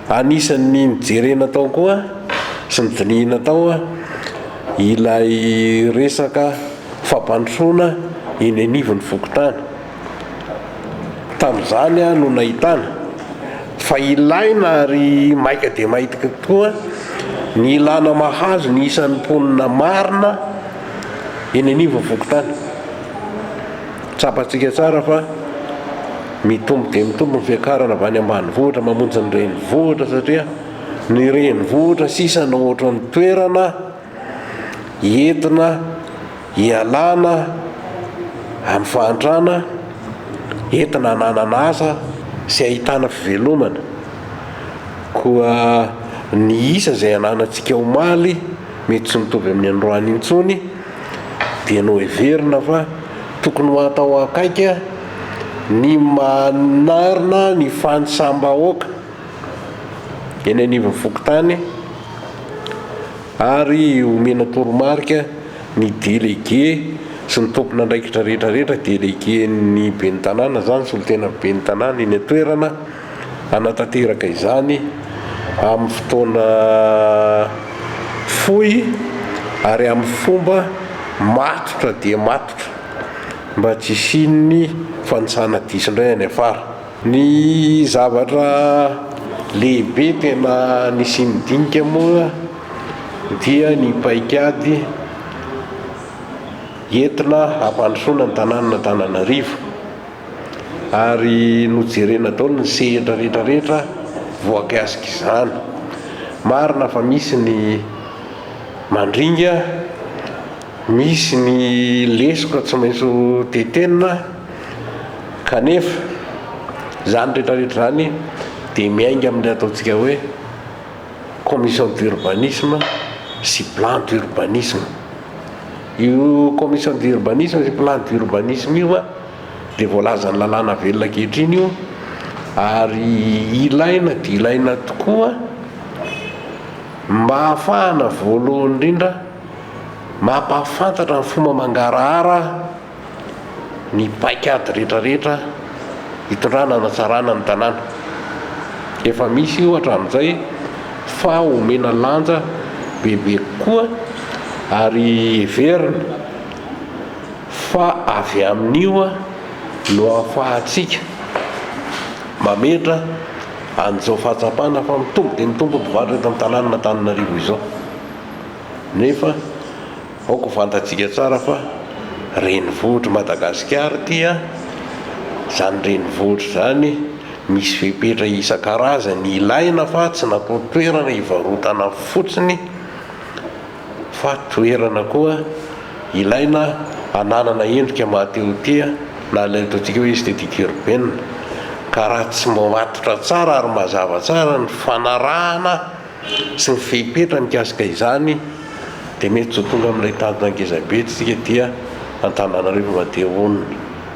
Anisan'ny nojerena tao koa sy nodinihina tao ilay resaka fampandrosoana eny anivon'ny fokontany. Tamin'izany no nahitana fa ilaina ary maika dia maika tokoa ny ilana mahazo ny isan'ny mponina marina eny anivon'ny fokontany. Tsapantsika tsara fa. Mitombo dia mitombo ny fiakarana avy any ambanivohitra mamonjy ny renivohitra satria ny renivohitra sisa no ohatran'ny toerana entina ialana amin'ny fahantrana, entina hananana asa sy ahitana fivelomana. Koa ny isa izay ananantsika omaly mety tsy mitovy amin'ny androany intsony. Dianao heverina fa tokony ho atao akaiky ny manarina ny fanisam-bahoaka eny anivon'ny fokontany ary omena toromarika ny delege sy ny tompon'andraikitra rehetra rehetra, delegen'ny ben'ny tanàna izany, solontenan'ny ben'ny tanàna eny an-toerana. hanatanteraka izany amin'ny fotoana fohy ary amin'ny fomba matotra dia matotra mba tsy hisian'ny fanisana diso indray any afara. Ny zavatra lehibe tena nisian'ny dinika moa dia ny paikady entina hampandrosoana ny tanànan'Antananarivo. ary nojerena daholo ny sehatra rehetra rehetra voakasik'izany. Marina fa misy ny mandringa, misy ny lesoka tsy maintsy ho tetenina, kanefa izany rehetra rehetra izany dia miainga amin'ny ataontsika hoe commission d'urbanisme sy plan d'urbanisme. Io commission d'urbanisme sy plan d'urbanisme io a dia voalazan'ny lalàna velona ankehitriny io ary ilaina dia ilaina tokoa mba hahafahana voalohany indrindra mampahafantatra ny fomba mangarahara ny paikady rehetra rehetra hitondrana hanatsarana ny tanàna. Efa misy io hatramin'izay fa omena lanja bebe kokoa ary heverina fa avy amin'io no ahafahantsika mametra an'izao fahatsapana fa mitombo dia mitombo ny mpivarotra eto amin'ny tanànan'Antananarivo izao nefa Aoka ho fantatsika tsara fa renivohitr'i Madagasikara ity an! Izany renivohitra izany misy fepetra isan-karazany ilaina fa tsy natao toerana hivarotana fotsiny fa toerana koa ilaina hananana endrika mahatehotia na ilay ataontsika hoe esthétique urbaine ka raha tsy matotra tsara ary mazava tsara ny fanarahana sy ny fehipetra mikasika izany dia mety tsy ho tonga amin'ilay tanjona ngezabe tsika ety Antananarivo Madeha Honina.